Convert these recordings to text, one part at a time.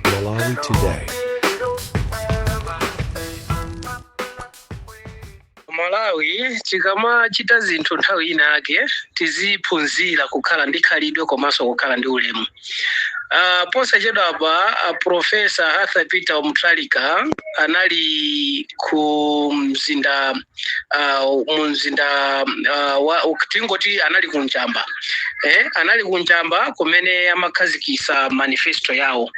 Malawi Today. malawi tikamachita zinthu nthawi ina yake tiziphunzira kukhala ndi khalidwe komanso kukhala ndi ulemu uh, posachedwa apa uh, profesa arthur peter mutharika anali ku mzinda ah, mu mzinda ah, wa u- tingoti anali kunjamba eh, anali kunjamba kumene amakhazikisa manifesto yawo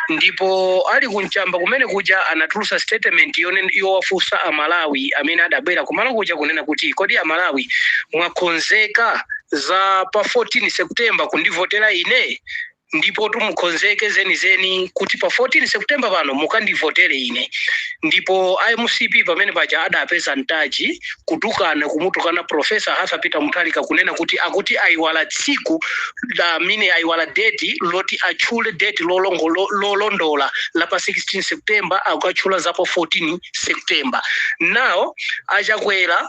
ndipo ali kunjamba kumene kuja anatulusa statement yone- yowafunsa amalawi amene adabwera kumalo kuja kunena kuti kodi amalawi mwakonzeka za pa 14 september kundivotera ine Ndipotu mukonzeke zenizeni kuti pa 14 September pano mukandivotere ine. Ndipo a mcp pamene paja adapeza ntaji, kutukwana, kumutukwana Prof. Arthur Peter Mutharika kunena kuti akuti aiwala tsiku la mine aiwala deti loti atchule deti lolongo lo, lolondola la pa 16 September akatchula za pa 14 September. Now a Chakwera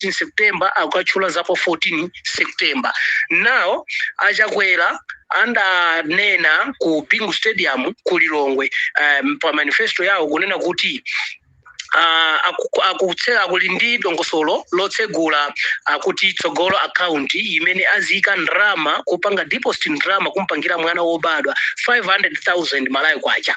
in september akatchula za pa 14 september now achakwera andanena ku bingu stadium ku lilongwe um, pa manifesto yawo kunena kuti ah, aku- akutse- ali ndi dongosolo lotsegula akuti tsogolo akaunti imene aziyika ndalama kupanga deposit ndalama kumpangira mwana wobadwa 500000 malawi kwacha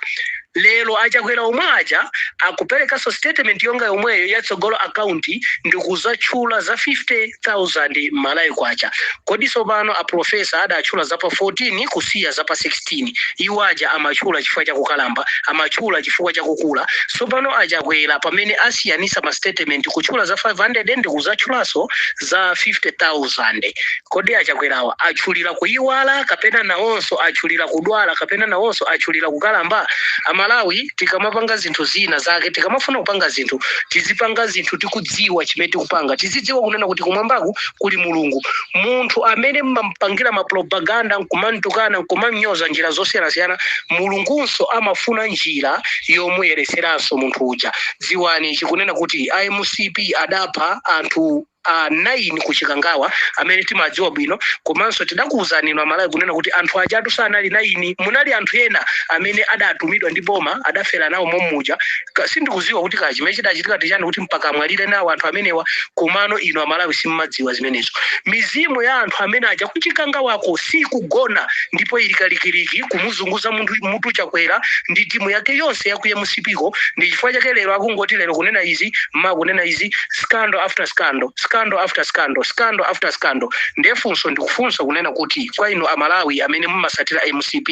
Lero a Chakwera omwe aja akuperekanso statement yonga yomweyo ya Tsogolo account ndikuzatchula za 50,000 Malawi Kwacha. Kodi tsopano a Prof. adatchula za pa 14 kusiya za pa 16? Iwo aja amatchula chifukwa cha kukalamba, amatchula chifukwa cha kukula. Tsopano a Chakwera pamene asiyanitsa ma statement kutchula za 500 ndikuzatchulanso za 50,000 kodi achakwerawa atchulira kuyiwala kapena nawonso atchulira kudwala kapena nawonso atchulira kukalamba amalawi tikamapanga zinthu zina zake tikamafuna kupanga zinthu tizipanga zinthu tikudziwa chimene tikupanga tizidziwa kunena kuti kumwambaku kuli mulungu munthu amene mmampangira mapropaganda nkumantukwana nkumanyoza njira zosiyanasiyana mulungunso amafuna njira yomuyeretseranso munthu uja Dziwani ichi, kunena kuti a mcp adapha anthu a 9 ku Chikangawa amene timawadziwa bwino, komanso tidakuuzani inu a Malawi kunena kuti anthu ajatu sanali 9, munali anthu ena amene adatumidwa ndi boma adafera nawo mommuja. Kaya, sindikudziwa kuti kaya chimene chidachitika ndi chani kuti mpaka amwalire nawo anthu amenewa, komano inu a Malawi simmadziwa zimenezo. Mizimu ya anthu amene aja ku Chikangawako siikugona ndipo ili kalikiliki kumuzunguza munthu, mutu Chakwera ndi timu yake yonse ya ku M. mcp ko ndi chifukwa chake lero akungoti lero kunena izi mawa kunena izi scandal after scandal scandal after scandal scandal after scandal ndiye funso ndikufunsa kunena kuti kwa inu amalawi amene mumasatira mcp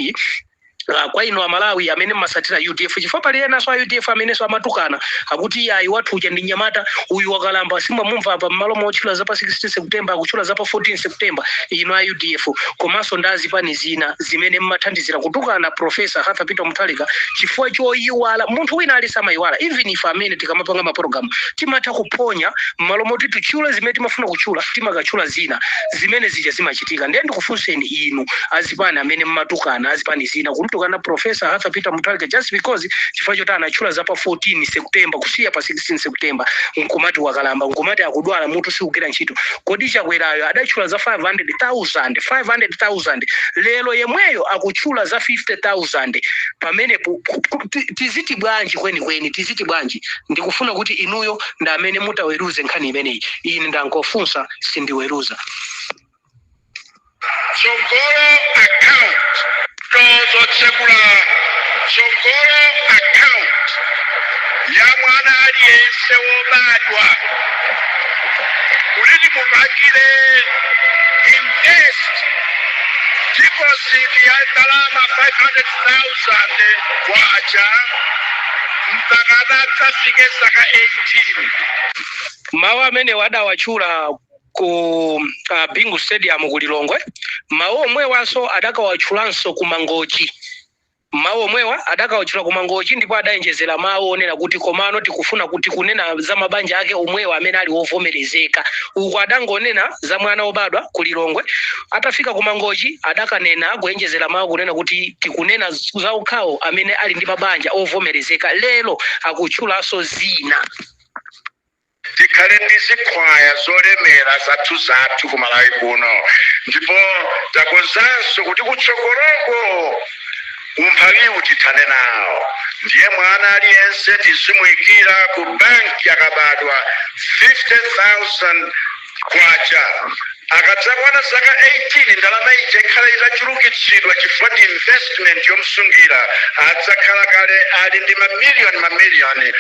Uh, kwa inu amalawi amene mmasatira udf chifukwa pali enanso a udf amenenso amatukana akuti ayi wathu uja ndi nyamata uyu wakalamba simwamumva apa mmalo motchula za pa 16 september akutchula za pa 14 september inu a udf komanso ndi azipani zina zimene mmathandizira kutukana professor Arthur Peter Mutharika chifukwa choyiwala munthu wina aliyense amayiwala even ife amene tikamapanga mapologalamu timatha kuphonya mmalo moti tichule zimene timafuna kuchula timakachula zina zimene zija zimachitika ndiye ndikufunseni inu azipani amene mmatukana azipani zina kumtukana professor Arthur Peter Mutharika just because chifukwa choti anatchula za pa 14 September kusiya pa 16 September nkumati wakalamba nkumati akudwala mutu siugwira ntchito kodi chakwerayo adatchula za 500,000 500,000 lero yemweyo akutchula za 50,000 pamenepo ku- ku- ti- tiziti bwanji kwenikweni tiziti bwanji ndikufuna kuti inuyo ndi amene mutaweruze nkhani imeneyi ine ndangofunsa sindiweruza Tsogolo account tidzatsegula Tsogolo account ya mwana aliyense wobadwa kuti timupangire invest deposit ya ndalama 500,000 kwacha mpaka atadzafike zaka 18. Mawu amenewa adawatchula ku uh, bingu stadium ku lilongwe mawu omwewanso adakawatchulanso ku mangochi mawu omwewa adakawatchula ku mangochi ndipo adaonjezera mawu onena kuti komano tikufuna kuti tikunena za mabanja ake omwewa amene ali wovomerezeka uko adangonena za mwana wobadwa ku lilongwe atafika ku mangochi adakanena kuonjezera mawu kunena kuti tikunena za okhawo amene ali ndi mabanja ovomerezeka lero akutchulanso zina tikhale ndi zikhwaya zolemera zathuzathu ku malawi kuno ndipo takonzanso kuti kutsogoloko umphawiwu tithane nawo ndiye mwana aliyense tizimuyikira ku banki akabadwa 50000 kwacha akadzakwana zaka 18 ndalama ija ikhala itachulukitsidwa chifukwa ndi investment yomsungira adzakhala kale ali ndi mamiliyoni mamiliyoni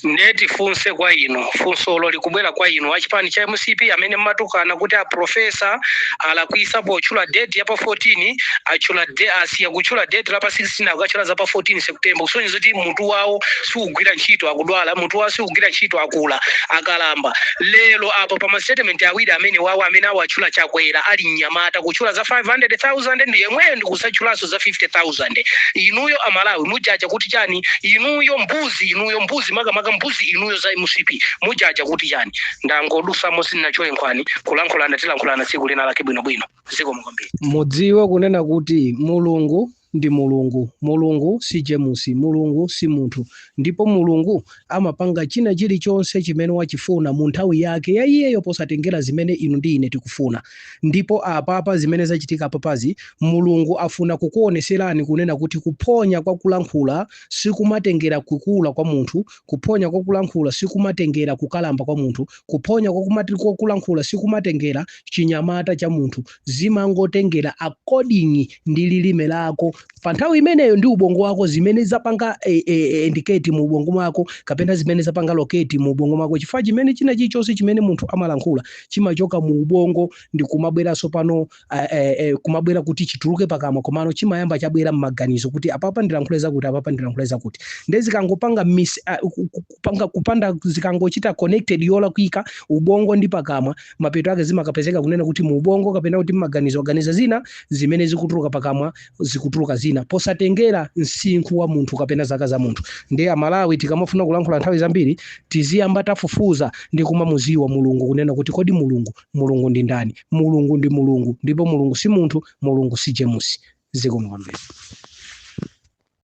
Nde tifunse kwa inu, funsolo likubwera kwa inu achipani cha mcp amene mmatukana kuti a professor alakwisa potchula date ya pa 14 atchula de asiya kutchula date la pa 16 akukatchula za pa 14 September kusonyeza kuti mutu wawo siugwira ntchito akudwala mutu wawo siugwira ntchito akula akalamba lero apa pa ma statement awiri amenewawa amene awatchula chakwera ali mnyamata kutchula za 500,000 ndi yemweyo ndikusatchulanso za 50,000 inuyo amalawi mujaja kuti chani inuyo mbuzi mbuzi inuyo mbuzi makamaka mbuzi inuyo za mcp mujaja kuti chani ndangodusamo sinachole nkhwani kulankhulana tilankhulana tsiku lina lake bwinobwino zikomo kwambiri mudziwe kunena kuti mulungu ndi mulungu mulungu si jemusi mulungu si munthu ndipo mulungu amapanga china chilichonse chimene wachifuna mu nthawi yake ya iyeyo posatengera zimene inu ndi ine tikufuna ndipo apapa zimene zachitika apapazi mulungu afuna kukuoneserani kunena kuti kuphonya kwa kulankhula sikumatengera kukula kwa munthu, kuphonya kwa kulankhula sikumatengera kukalamba kwa munthu, kuphonya kwa kulankhula sikumatengera chinyamata cha munthu, zimangotengera according ndi lilime lako pa nthawi imeneyo ndi ubongo wako zimene zapanga e, e, indicate mu ubongo mako kapena zimene zapanga locate mu ubongo mako chifukwa chimene china chilichonse chimene munthu amalankhula chimachoka mu ubongo ndi kumabweranso pano eh, eh, eh, kumabwera kuti chituluke pakamwa komano chimayamba chabwera mmaganizo kuti apapa ndilankhule zakuti apapa ndilankhule zakuti nde zikangopanga mis ah, ku- ku- kupanga kupanda zikangochita connected yolakwika ubongo ndi pakamwa mapeto ake zimakapezeka kunena kuti mu ubongo kapena kuti mmaganizo aganiza zina zimene zikutuluka pakamwa zikutuluka zina posatengera msinkhu wa munthu kapena zaka za munthu ndiye amalawi tikamafuna kulankhula nthawi zambiri tiziyamba tafufuza ndi kumamuziwa mulungu kunena kuti kodi mulungu mulungu ndi ndani mulungu ndi mulungu ndipo mulungu si munthu mulungu si jemusi zikomo kwambiri